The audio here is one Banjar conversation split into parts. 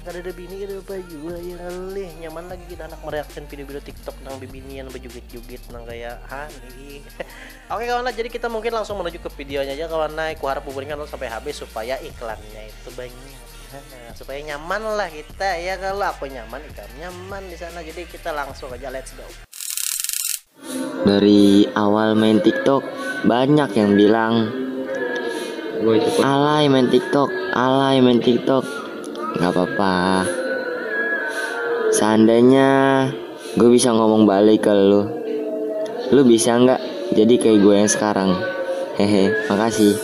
Kadada bini kada apa jua ya ngalih nyaman lagi kita handak mereaction video-video TikTok nang bibinian bejugit-jugit nang kaya ha nih. Oke kawan lah, jadi kita mungkin langsung menuju ke videonya aja kawan lah. Kuharap buburingan dulu sampai habis supaya iklannya itu banyak. supaya nyaman lah kita ya kalau aku nyaman ikam nyaman di sana. Jadi kita langsung aja let's go. Dari awal main tiktok banyak yang bilang alay main tiktok, alay main tiktok Gak apa-apa Seandainya gue bisa ngomong balik ke lu Lu bisa gak jadi kayak gue yang sekarang Hehe, makasih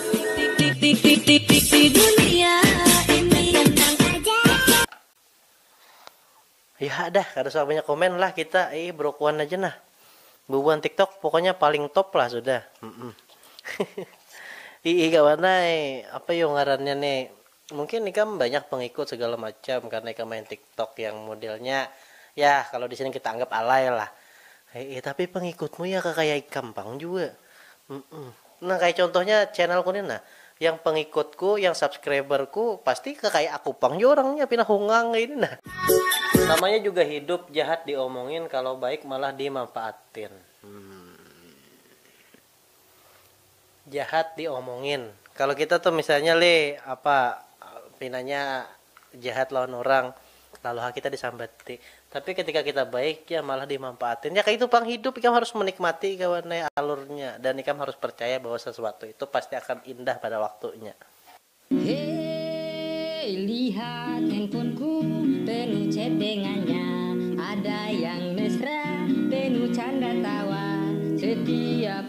Yha dah kada usah banyak komen lah kita ih brokuan aja nah bubuhan tiktok pokoknya paling top lah sudah hmm iih kawan ai apa yo ngarannya ni mungkin ikam banyak pengikut segala macam karena ikam main tiktok yang modelnya yah kalo disini kita anggap alay lah iih tapi pengikutmu ya kakaya ikam pang jua hmm. Nah kaya contohnya channel ku ni nah, yang pengikut ku, yang subscriber ku pasti kakaya aku pang jua orangnya pina hungang kaya ini nah. Namanya juga hidup, jahat di omongin, kalo baik malah di manfaatin. Jahat di omongin, kalo kita tuh misalnya lih apa pinanya jahat lawan urang, lalu ha kita disambati. Tapi ketika kita baik ja malah dimampaatin. Ya kaitu pang hidup, ikam harus menikmati gawan ai alurnya dan ikam harus percaya bahwa sesuatu itu pasti akan indah pada waktunya. Hei, lihat handphonku penuh chattingannya, ada yang mesra penuh canda tawa setiap.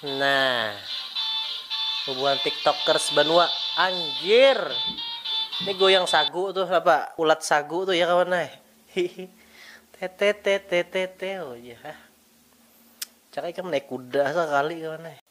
Nah, hubungan tiktokers banua, anjir. Ini goyang sagu tuh apa? Ulat sagu tuh ya kawan nah. Tete tete tete oh ya. Cak ikam naik kuda sekali kawan nah.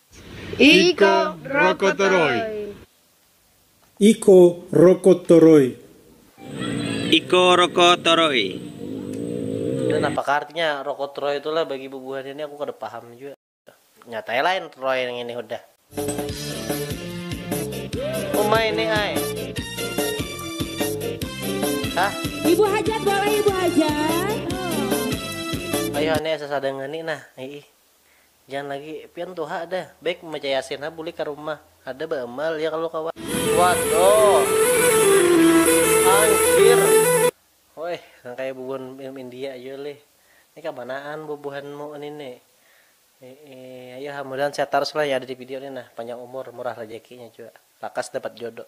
Iko Rokotoroi. Iko Rokotoroi. Iko Rokotoroi. Dan apakah artinya Rokotoroi tu lah bagi bubuhan ini aku kada paham jua. Nyata ai lain Roy ngini hudah. Uma ini ai. Hah? Ibu hajat boleh ibu hajat. Ayuh ani asa sadang ngani nah iih. Jangan lagi, pian tuha dah. Baik membaca yasin ha bulik ka rumah. Ada ba emal ya kalu kawa. Wadoh. Anjir. Hoi, nang kaya bubuhan film India jua lih. Ni kamanaan bubuhanmu ni ni. Iih, ayoha mudahan sehat tarus lah yang ada di video ni nah, panjang umur, murah rejekinya jua. Lakas dapat jodoh.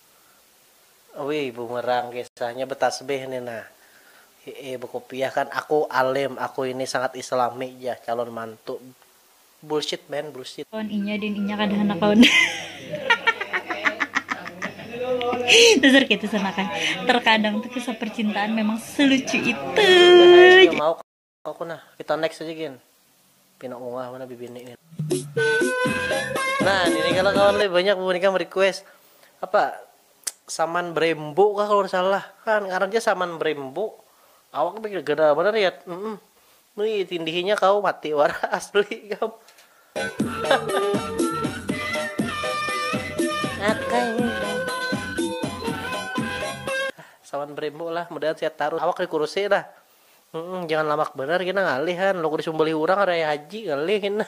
Ui bumerang kisahnya betasbih ni nah. Hie bekupiah kan aku alim aku ini sangat islami jah calon mantu bullshit man bullshit. Lawan inya din inya kada handak lawan dasar kaitu sanakan terkadang tu kisah percintaan memang selucu itu. Aku nah, kita next aja gin. Pina ungah mana bibini gin. Nah, ini kalau kawan lebih banyak bubunikam request apa saman brembo kah kalau salah kan karena dia saman brembo awak tapi gada benar ya mm -mm. Nui tindihinya kau mati war asli kam saman brembo lah mudahan sehat taruh awak dikurusi dah Humm jangan lamak banar kena ngalih ha lalu kada sumbalih urang hari raya haji ngalih kena.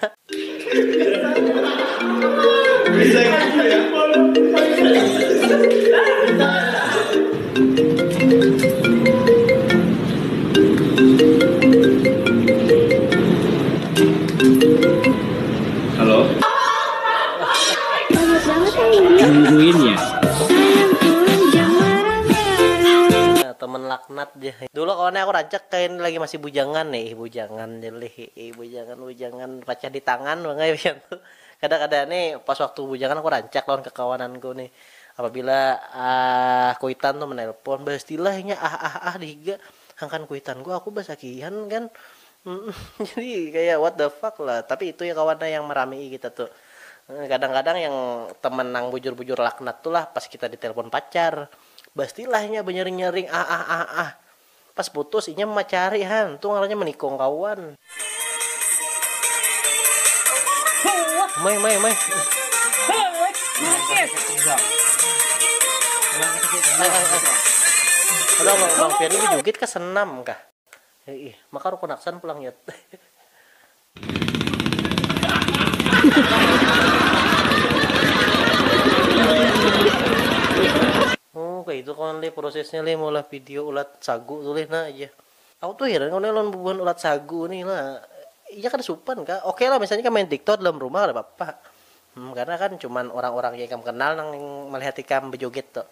Teman laknat. jar nih. Dulu kawannya aku rancak kaya ini lagi masih bujangan nih, ih bujangan jar lih, iih bujangan bujangan pacah di tangan pang ai pian tu. Kada kada nih pas waktu bujangan aku rancak lawan kakawananku nih apabila kuitan tu menelpon bastilah inya ah ah ah di higa hangkan kuitanku aku basakihan kan jadi kaya what the fuck lah tapi itu ya kawan yang meramii kita tu kadang kadang yang teman nang bujur bujur laknat tu lah pas kita di telpon pacar. Bastilah inya banyaring-nyaring ah ah ah ah. Pas putus, inya mamacari han, tu ngarannya manikung kawan. Mai mai mai. Ai ai ai. Aduh abang abang pian ni bajugit kah senam kah. Iih, maka rukun aksan pulang yet. Oh kaya itu kawan lih prosesnya lih maulah video ulat sagu tu lih nah jar aku tu heran kawan lawan bubuhan ulat sagu nih lah inya kada supan kah oke lah misalnya ikam main tiktok dalam rumah kada papa hmm karena kan cuman orang orang yang ikam kenal nang melihat ikam bejoget tu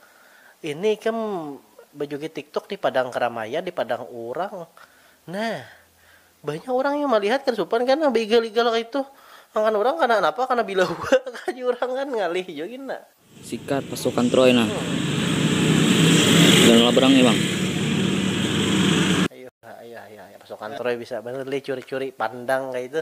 ini ikam bejoget tiktok di padang keramaian di padang orang nah Banyak urang yang malihat kada supan kan nang baigal-igal kaitu. Angkan urang kana napa kana bila hua kah jar urang kan ngalih jua gin nah. Sikat pasukan Troy nah. Jangan labrang nih bang. Ayuh ayuh ayuh pasukan Troy bisa banar lih curi-curi pandang kaitu.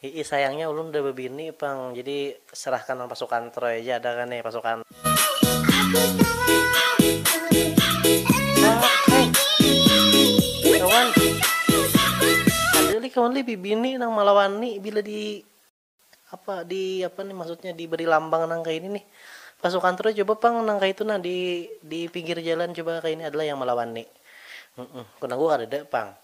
Hiih sayangnya ulun udah bebini pang jadi serahkan nang pasukan troy aja ada kah nih pasukan. Ada lih kawan lih bibini nang malawani bila di apa di apa nih maksudnya di beri lambang nang kaya ini nih pasukan troy coba pang nang kaya itu nah di di pinggir jalan coba kaya ini ada lah yang malawani nang ku kadada pang.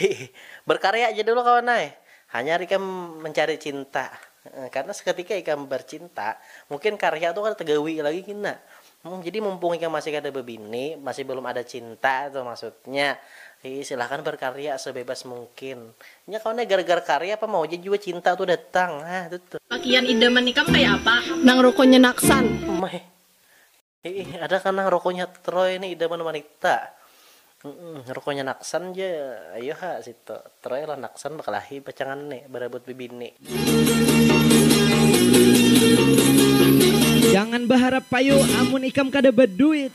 Hi hi. Berkarya ja dulu kawan ai. Hanyar ikam mencari cinta. Karena seketika ikam bercinta, mungkin karya tu kada tegawi lagi kina. Jadi mumpung ikam masih kada bebini, masih belum ada cinta tu maksudnya. Hi hi. Silahkan berkarya sebebas mungkin. Nya kawan ai, gara-gara karya apa mau ja jua cinta tu datang. Hah, tuh tuh. Pakian idaman ikam kaya apa? Nang rukunnya naksan. Meh. Iih ada kah nah rokonya Troy nih idaman wanita. Umm rokonya Naksan ja ayo ha situ. Troy lawan Naksan bakalahi pacangan nih barabut bibini. Jangan baharap payu amun ikam kada baduit.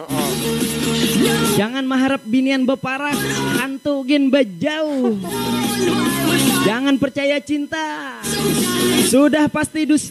Jangan maharap binian baparak, hantu gin bajauh. Jangan percaya cinta, sudah pasti dusta.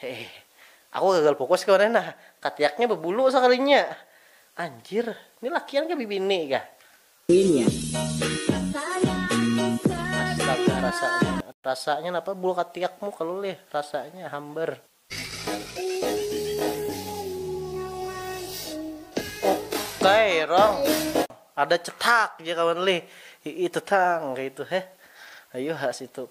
Heeh. Aku gagal fokus kemarin nah. Katiaknya bebulu sakalinya. Anjir, ni lakian kah bibini kah? Astaga rasanya. Rasanya napa bulu katiakmu kalu lih. Rasanya hambar. Okai rong. Ada cetak ja kawan lih. Hii tetang kaitu heh. Ayuha situ.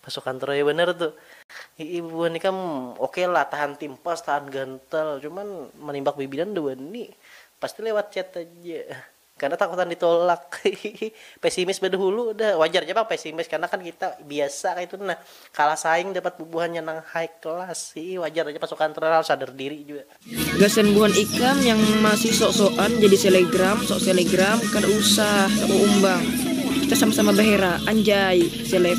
Pasukan Troya banar tu. Hi'ih bubuhan ikam oke lah tahan timpas tahan gantal cuman manimbak bibinan nda wani. Pasti lewat chat aja. Karna takutan ditolak hi'ih. Pesimis badahulu dah. Wajar ja pang pesimis karna kan kita biasa kaitu nah kalah saing dapat bubuhannya nang high class hi'ih wajar aja pasukan Troya harus sadar diri jua. Gasan buhan ikam yang masih sok-sokan jadi selegram, sok selegram, kada usah taumbang, kita sama-sama bahera, anjay seleb.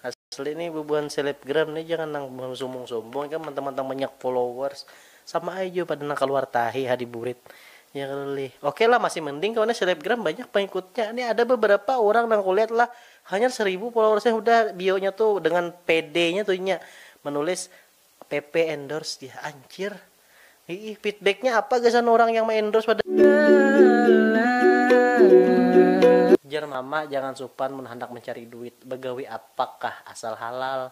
Asli nih bubuhan selebgram nih jangan nang buhan sumbung-sumbung ikam mantang-mantang banyak followers sama ai jua pada nang kaluar tahi ha di burit ya kalo lih oke lah masih mending kawan nih selebgram banyak pangikutnya nih ada beberapa urang nang kulihat lah Hanyar saribu followersnya hudah bionya tu dengan pedenya tu inya menulis pp endorse jar anjir iih feedbacknya apa gasan orang yang me endorse pada. Jar mama jangan supan mun handak mencari duit begawi apakah asal halal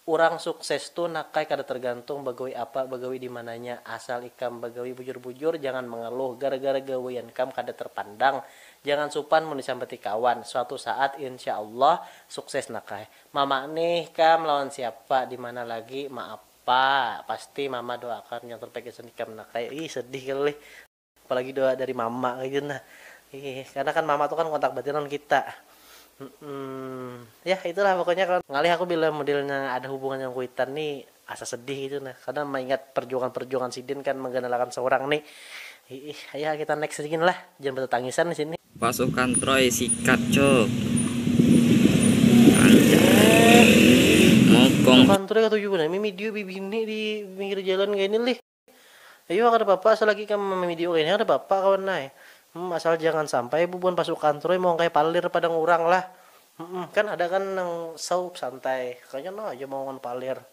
Urang sukses tu nakai kada tergantung bagawi apa bagawi dimananya asal ikam bagawi bujur bujur jangan mengeluh gara gara gawian kam kada terpandang jangan supan mun disambati kawan suatu saat insya Allah sukses nakai mama nih kam lawan siapa dimana lagi maapa pasti mama doakan yang terbaik gasan ikam nakai ih sedih kali. Apalagi doa dari mama gitu nah. Ih, karena kan mama tuh kan kontak batin lawan kita. Hmm, ya itulah pokoknya kawan. Ngalih aku bila modelnya ada hubungan yang kuitan ni asa sedih gitu nah. Karena maingat perjuangan-perjuangan sidin kan mengganalakan seorang ni. Ih, ayolah kita next aja gin lah. Jangan betatangisan di sini. Pasukan Troy sikat cuk. Anjay. Mokong. Pasukan Troy katuju nah. Mimi dio bibini di pinggir jalan kaini lih. Ayuha kada papa asa lagi ikam mamidio kayni kada papa kawan ai. Humm asal jangan sampai bubuhan pasukan troy maungkai palir padang urang lah. Humm kan ada kan nang saup santai kanya no aja maungun palir.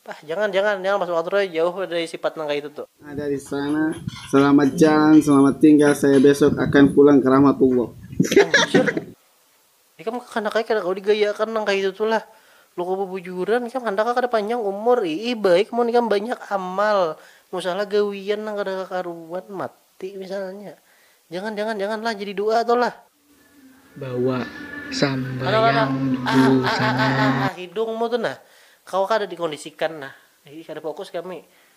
Pah jangan jangan jangan pasukan troy jauh dari sipat nang kaitu tu. Ada di sana. Selamat jalan selamat tinggal saya besok akan pulang ke rahmatullah. Anjir. Ikam kakanak ai kada kawa digayaakan nang kayitu tu lah. Loko bubujuran, ikam handak kah kada panjang umur? Iih baik mun ikam banyak amal. Musahlah gawian nang kada kakaruan, mati misalnya. Jangan, jangan, jangan lah jadi du'a tu lah. Bawa sambayang busana. Hidungmu tu nah, kawa kada dikondisikan nah. Iih kada fokus kami.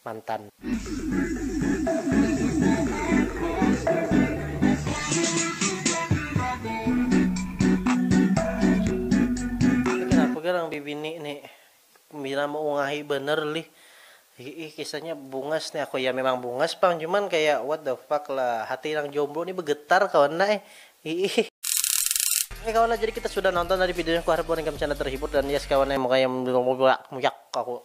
mantan. Ni kenapa kah nang bibini ni pina meungahi banar lih hiih kisahnya bungas ni aku ya memang bungas pang cuman kaya what the fuck lah hati nang jomblo ni begetar kawan nah eh hiih. Oke kawan nah jadi kita sudah nonton tadi videonya kuharap wan ikam canda terhibur dan yes kawan eh mukanya muyak aku.